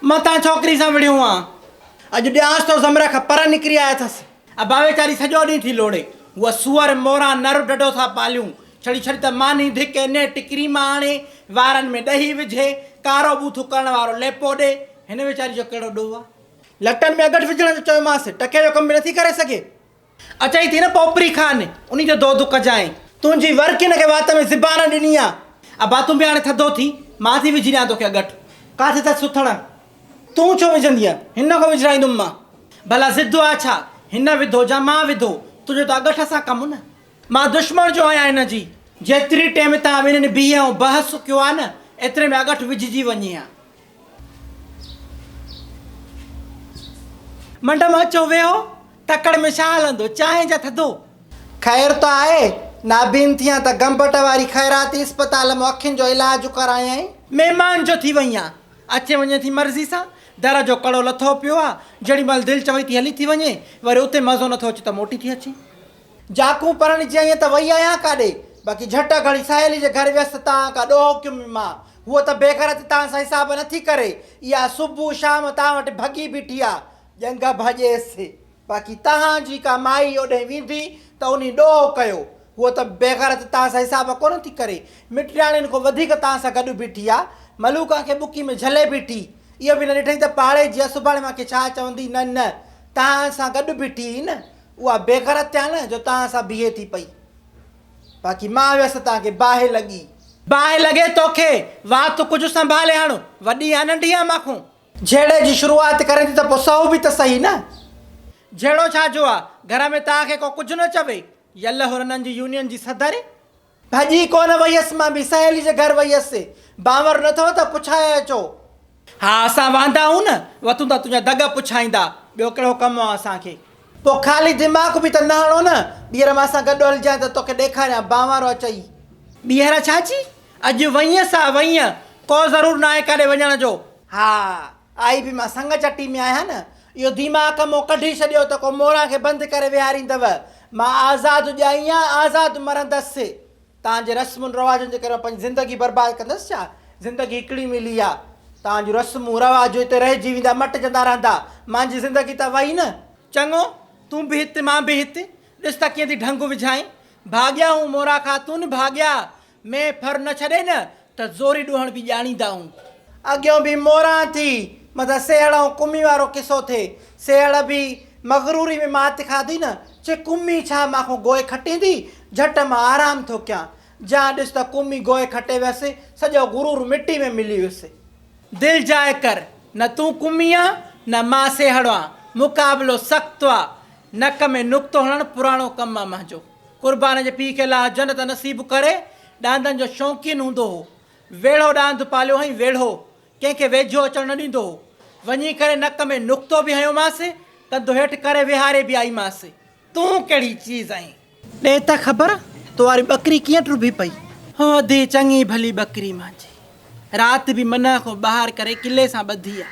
متان ڇوڪري سان وڙهيو هئان. اڄ ڏيانس ٿو زمري کان پر نڪري آيو اٿس. ابا ويچاري سڄو ڏينهن ٿي لوڙي. هوء سوئر، موران، نر ڍڍو ٿا پاليون. ڇڙي ڇڙي ته ماني ڌڪي نيٽ ڪريم آڻي، وارن ۾ ڏهي وجهي، ڪارو ٻوٿو ڪرڻ وارو ليپو ڏي. هن ويچاري جو ڪهڙو ڏوهه آ. لٽن ۾ اڳٺ وجهڻ جو چيومانس، ٽڪي جو ڪم به نٿي ڪري سگهي. اچائين ٿي نه پوپري خان، انهي جو دودو ڪجانء. تنهنجي ور ڪن کي وات ۾ زبان ڏني آ. ابا تون به هاڻي ٿڌو ٿي، مان ٿي وجهي ڏيان توکي اڳٺ. ڪاٿي اٿس سٿڻ؟ تون ڇو وجهندينء؟ هن کان وجهرائيندم مان. ڀلا ضد آ ڇا؟ هن وڌو جا مان وڌو، تنهنجو ته اڳٺ سان ڪم نه. مان دشمڻ جو آهيان هن جي. جيتري ٽيم تان ٻنهين بيهه ۽ بحث ڪيو آ نه، ايتري ۾ اڳٺ وجهجي وڃي ها. منڊم اچو ويهو، تڪڙ ۾ ڇا هلندو، چانهه جا ٿڌو. خير ته آهي، نابين ٿيان ته گمبٽ واري خيراتي اسپتال ۾ اکين جو علاج ڪرايائين. مهمان جو ٿي وئين آن، اچي وڃي ٿي مرضي سان، در جو ڪڙو لٿو پيو آ، جهڙي مهل دل چوي ٿي هلي ٿي وڃي، وري اتي مزو نٿو اچي ته موٽي ٿي اچين. جاکون پرڻ جي ائين ته وئي آهيان ڪاڏي، باقي جهٽ گهڙي سهيلي جي گهر ويس ته تان ڪا ڏوهه ڪيم ماء، هوء ته بيغيرتي تان سان حساب نه ٿي ڪري، اها صبح شام تان وٽ ڀڳي بيٺي آ، ڄنگهه ڀڄيس، باقي تان جي ڪا مائي اوڏهين ويندي ته انهي ڏوهه ڪيو، هوء ته بيغيرتي تان سان حساب ڪونه ٿي ڪري، مٽياڻين کان وڌيڪ تان سان گڏ بيٺي آ، ملوڪان کي ٻڪي ۾ جهلي بيٺي، اهو به نه ڏٺئين ته پاڙي جي آ سڀاڻي مان کي ڇا چوندي، نه نه، تان سان گڏ بيٺي هئي نه، اها بي غرت ٿيا نه جو تان سان بيهي ٿي پئي. باقي مان ويس تان کي باهه لڳي. باهه لڳي توکي. وات تون ڪجهه سنڀالي هڻ. وڏي يا ننڍي آهي مان کون. جهيڙي جي شروعات ڪرين ٿي ته پوء سهو به ته سهي نه. جهيڙو ڇا جو آ. گهر ۾ تان کي ڪو ڪجهه نه چوي. يله هرنن جي يونين جي صدر ڀڄي ڪونه ويس، مان به سهيلي جي گهر ويس، باور نه ٿئو ته پڇائي اچو. ها اسان واندا آهيون نه، وتون ته تنهنجا دڳ پڇائيندا، ٻيو ڪهڙو ڪم آهي اسان کي. پوء خالي دماغ به ته نه هڻو نه، ٻيهر مان سان گڏ هلجانء ته توکي ڏيکاريان بانوارو اچئي. ٻيهر ڇا چي؟ اڄ وئينء سا وئينء، ڪو ضرور ناهي ڪاڏي وڃڻ جو. ها آئي به مان سڱ چٽي ۾ آهيان نه. اهو ديماڪ مون ڪڍي ڇڏيو ته ڪو موران کي بند ڪري ويهاريندو. مان آزاد ڄائي آن آزاد مرندس. توهان جي رسمن رواجن جي ڪري مان پنهنجي زندگي برباد ڪندس ڇا؟ زندگي هڪڙي ملي آ. توهان جون رسمون رواجون هتي رهجي ويندا، مٽجندا رهندا. مانجي زندگي ته وئي نه. چڱو، تون به هت، مان به هت. ڏس ته ڪيئن ٿي ڍنگ وجهائين. ڀاڳيا هون مورا خاتون، ڀاڳيا. ۾ ڦر نه ڇڏي نه ته زوري ڏوهڻ به ڄاڻيندائون. اڳيون به موران ٿي متان سيهڙ ۽ ڪمي وارو قصو ٿئي. سيهڙ به مغروري ۾ مات کاڌي نه چي ڪمي ڇا مان کان گوء کٽيندي، جهٽ مان آرام ٿو ڪيان. جيان ڏس ته ڪمي گوء کٽي ويس، سڄو غرور مٽي ۾ ملي ويس. دل جاء ڪر، نه تون ڪمي آن، نه مان سيهڙ آن، مقابلو سخت آ، نڪ ۾ نقطو هڻڻ پراڻو ڪم آ منهنجو. قربان جي پيء کي الله جنت نصيب ڪري ڏاندن جو شوقين هوندو هو ويڙهو ڏاند پاليو هئين ويڙهو ڪنهن کي ويجهو اچڻ نه ڏيندو هو وڃي ڪري نڪ ۾ نقطو به هنيومانس ڪنڌ هيٺ ڪري ويهاري به آئيمانس تون ڪهڙي چيز آهين ڏي ته خبر تو واري ٻڪري ڪيئن ٽرڀي پئي هو اڌي چڱي ڀلي ٻڪري مانجي رات به منهن کان ٻاهر ڪري ڪلي سان ٻڌي آ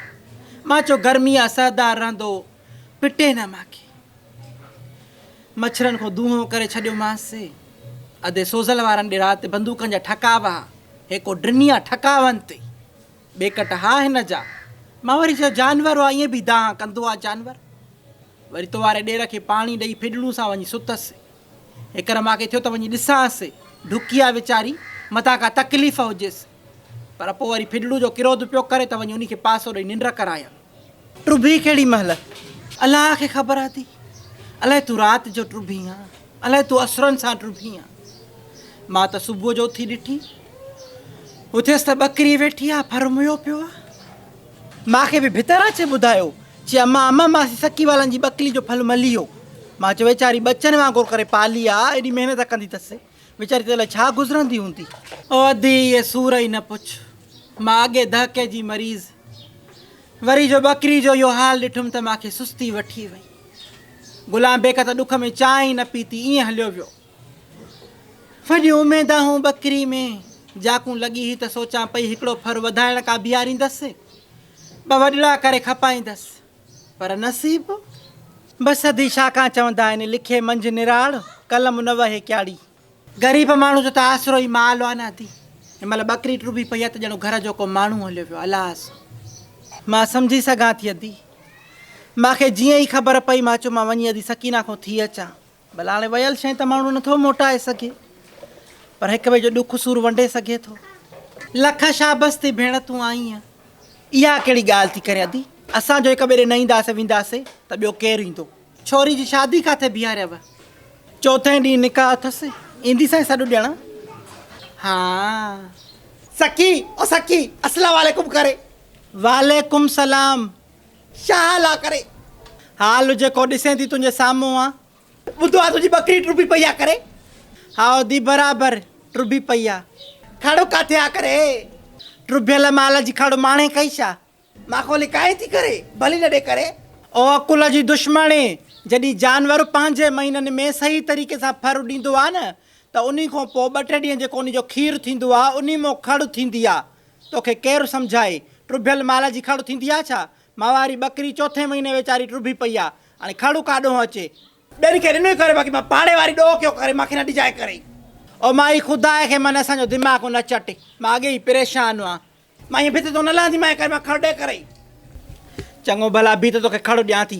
مان چيو گرمي آ سهدار رهندو پٽي نه ماکي مڇرن کان دونهون ڪري ڇڏيومانس. ادي سوزل وارن ڏي رات بندوقن جا ٺڪا به ها. هيڪو ڊنيا ٺڪا ونت ئي ٻيڪٽ ها هن جا. مان وري چيو جانور هو ائين به دانهن ڪندو آ جانور. وري تو واري ڏير کي پاڻي ڏئي ڦڏڙون سان وڃي ستس. هيڪر ماکي ٿيو ته وڃي ڏسانس ڍڪي آ ويچاري متان ڪا تڪليف هجيس. پر پوء وري ڦڏڙو جو ڪروڌ پيو ڪري ته وڃي انهي کي پاسو ڏئي ننڊ ڪرايان. ٽٻي ڪهڙي مهل؟ الله کي خبر آتي. الائي تون رات جو ٽٻين ها. الائي تون اسرن سان ٽٻين ها. مان ته صبح جو اٿي ڏٺي. اٿيس ته ٻڪري ويٺي آ، ڦرميو پيو آ. مان کي به ڀتر اچي ٻڌايو. چي امان امان ماسي سڪي والن جي ٻڪلي جو ڦل ملي ويو. مان چيو ويچاري ٻچن وانگر ڪري پالي آ، ايڏي محنت ڪندي تسي. ويچاري تي الائي ڇا گذرندي هوندي. او ادي اهي سور ئي نه پڇ. مان اڳي دهڪي جي مريض وري جو ٻڪري جو اهو حال ڏٺم ته مان کي سستي وٺي وئي. غلام بيگ ته ڏک ۾ چانهه ئي نه پيتي ائين هليو ويو. وڏيون اميدان هون ٻڪري ۾ جاکون لڳي هئي ته سوچان پئي هڪڙو ڦر وڌائڻ ڪا بيهاريندس ٻه وڏڙا ڪري کپائيندس. پر نصيب به سڌي شاخان چوندا آهن لکي منجهه نراڙ قلم نه وهي ڪياڙي. غريب ماڻهو جو ته آسرو ئي مال آ نه ادي هن مهل ٻڪري ٽرڀي پئي آ ته ڄڻو گهر جو ڪو ماڻهو هليو ويو الاس. مان سمجهي سگهان ٿي ادي مان کي جيئن ئي خبر پئي مان چيو مان وڃي ادي سڪينه کون ٿي اچان ڀلا هاڻي ويل شيء ته ماڻهو نه ٿو موٽائي سگهي پر هڪ ٻئي جو ڏک سور ونڊي سگهي ٿو. لک شابس ٿي ڀيڻ تون آئينء. اها ڪهڙي ڳالهه ٿي ڪرين ادي، اسان جو هڪ ٻئي ڏي نه اينداسين وينداسين ته ٻيو ڪير ايندو. ڇوري جي شادي ڪاٿي بيهاريو؟ چوٿين ڏينهن نڪاح اٿس، ايندي سائين سڏ ڏيڻ؟ هان. سکي او سکي اسلام عليڪم ڪري. وعليڪم سلام شاهه الله ڪري. حال جيڪو ڏسين ٿي تنهنجي سامهون آ. ٻڌو آ تنهنجي ٻڪري ٽرڀي پئي آ ڪري. هائو دي برابر ٽرڀي پئي آ. کڙ ڪاٿي آ ڪري. ٽرڀيل مال جي کڙ ماڻي ڪئي ڇا. ماکو لڪائين ٿي ڪري ڀلي نه ڏي ڪري. او عقل جي دشمڻي جڏهن جانور پنهنجي مهينن ۾ صحيح طريقي سان ڦر ڏيندو آ نه ته انهي کان پوء ٻه ٽي ڏينهن جيڪو انهي جو کير ٿيندو آ انهي مان کڙ ٿيندي آ توکي ڪير سمجهائي؟ ٽٻيل مال جي کڙ ٿيندي آ ڇا؟ ماهواري ٻڪري چوٿين مهيني ويچاري ٽٻي پئي آ، هاڻي کڙ ڪا ڏونهن اچي؟ ٻين کي ڏنو ئي ڪري باقي مان پاڙي واري ڏوهه ڪيو ڪري مانکي نه ڏجائي ڪري. او مائي خدا کي من اسان جو دماغ نه چٽ مان اڳي ئي پريشان آ مان ائين ڀت تون نه لهندي مائي ڪري مان کڙ ڏي ڪري. چڱو ڀلا بيهه ته توکي کڙ ڏيان ٿي.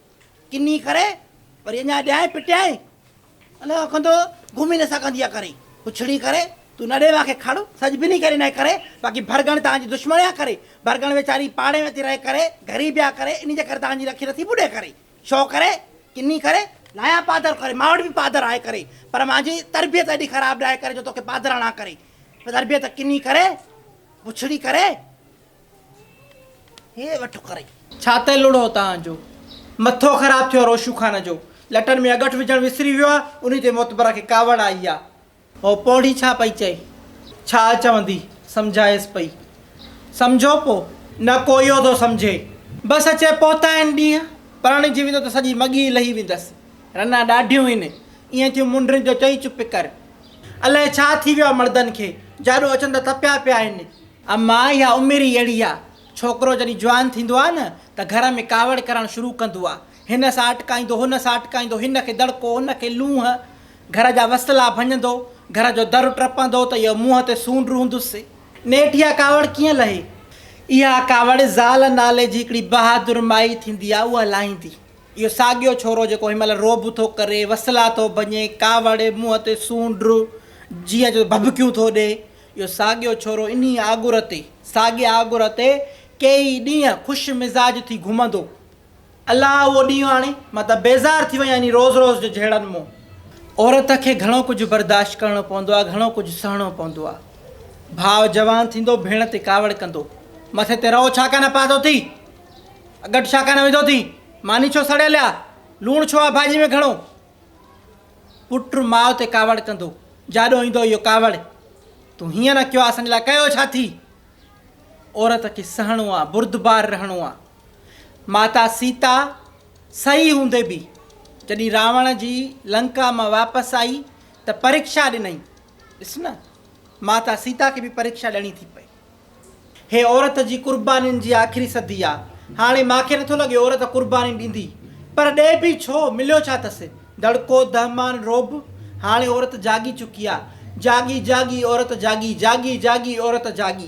ڪنھي ڪري وري اڃا ڏيائين پٽيائين ان کان ڪندو گھمي نه سگھندي آ ڪري پڇڙي ڪري تون نه ڏي ماکي کڙ سج بنھي ڪري نه ڪري باقي ڀرڳڻ تانجي دشمڻ آ ڪري ڀرڳڻ ويچاري پاڙي ۾ ٿي رھي ڪري غريب آ ڪري انھي جي ڪري تانجي رکي نه ٿي ٻڏي ڪري شو ڪري ڪنھي ڪري لايان پادر ڪري مان وٽ به پادر آھي ڪري پر مانجي تربيت ايڏي خراب نه آھي ڪري جو توکي پادر ھڻان ڪري تربيت ڪنھي ڪري پڇڙي ڪري. ڇا ته لڙهو تان جو. مٿو خراب ٿيو روشو خان جو. لٽن ۾ اڳٺ وجهڻ وسري ويو آ. انهي تي معتبره کي ڪاوڙ آئي آ. هوء پوڙهي ڇا پئي چئي. ڇا چوندي؟ سمجهائيس پئي. سمجهو پو. نه ڪويو ٿو سمجهي. بس اچي پهتا آهن ڏينهن. پرڻجي ويندو ته سڄي مڳي ئي لهي ويندس. رنا ڏاڍيون هين. ايئن ٿيون منڊرين جو چئي چپ ڪر. الائي ڇا ٿي ويو آ مڙدن کي. جاڏو اچن ته تپيا پيا آهن. اما اها عمر ئي اهڙي آ، ڇوڪرو جڏهن جوان ٿيندو آ نه ته گهر ۾ ڪاوڙ ڪرڻ شروع ڪندو آ، هن سان اٽڪائيندو، هن سان اٽڪائيندو، هن کي دڙڪو، هن کي لونهن، گهر جا وسلا ڀڃندو، گهر جو در ٽپندو ته اهو منهن تي سونڊ رهندس، نيٺ اها ڪاوڙ ڪيئن لهي؟ اها ڪاوڙ زال نالي جي هڪڙي بهادر مائي ٿيندي آ، اها لاهيندي. اهو ساڳيو ڇورو جيڪو هن مهل رعب ٿو ڪري، وسلا ٿو ڀڃي، ڪاوڙ، منهن تي سونڊ، جيء جو ڀڀڪيون ٿو ڏئي، اهو ساڳيو ڇورو انهيء آڳر تي، ساڳئي آڳر تي ڪيئي ڏينهن خوش مزاج ٿي گهمندو. الله اهو ڏينهن آڻي. مان ته بيزار ٿي وئي آهيان انهي روز روز جي جهيڙن مون. عورت کي گهڻو ڪجهه برداشت ڪرڻو پوندو آهي، گهڻو ڪجهه سهڻو پوندو آهي. ڀاء جوان ٿيندو، ڀيڻ تي ڪاوڙ ڪندو. مٿي تي رئو ڇا ڪانه پاتو اٿئي؟ اڳٽ ڇا ڪانه وڌو اٿئي؟ ماني ڇو سڙيل آ؟ لوڻ ڇو آ ڀاڄي ۾ گهڻو؟ پٽ ماء تي ڪاوڙ ڪندو، جاڏو ايندو اهو ڪاوڙ، تون هيئن نه ڪيو ها اسان جي لاء ڪيو ڇا ٿي؟ عورت کي سهڻو آ، بردبار رهڻو آ. ماتا سيتا سهي هوندي به جڏهن راوڻ جي لنڪا مان واپس آئي ته پريڪشا ڏنائين. ڏس نه، ماتا سيتا کي به پريڪشا ڏيڻي ٿي پئي. هي عورت جي قربانين جي آخري صدي آ. هاڻي مان کي نٿو لڳي عورت قرباني ڏيندي. پر ڏئي به ڇو؟ مليو ڇا تس؟ دڙڪو، دهمان، رعب؟ هاڻي عورت جاڳي چڪي آ. جاڳي جاڳي عورت جاڳي، جاڳي جاڳي عورت جاڳي.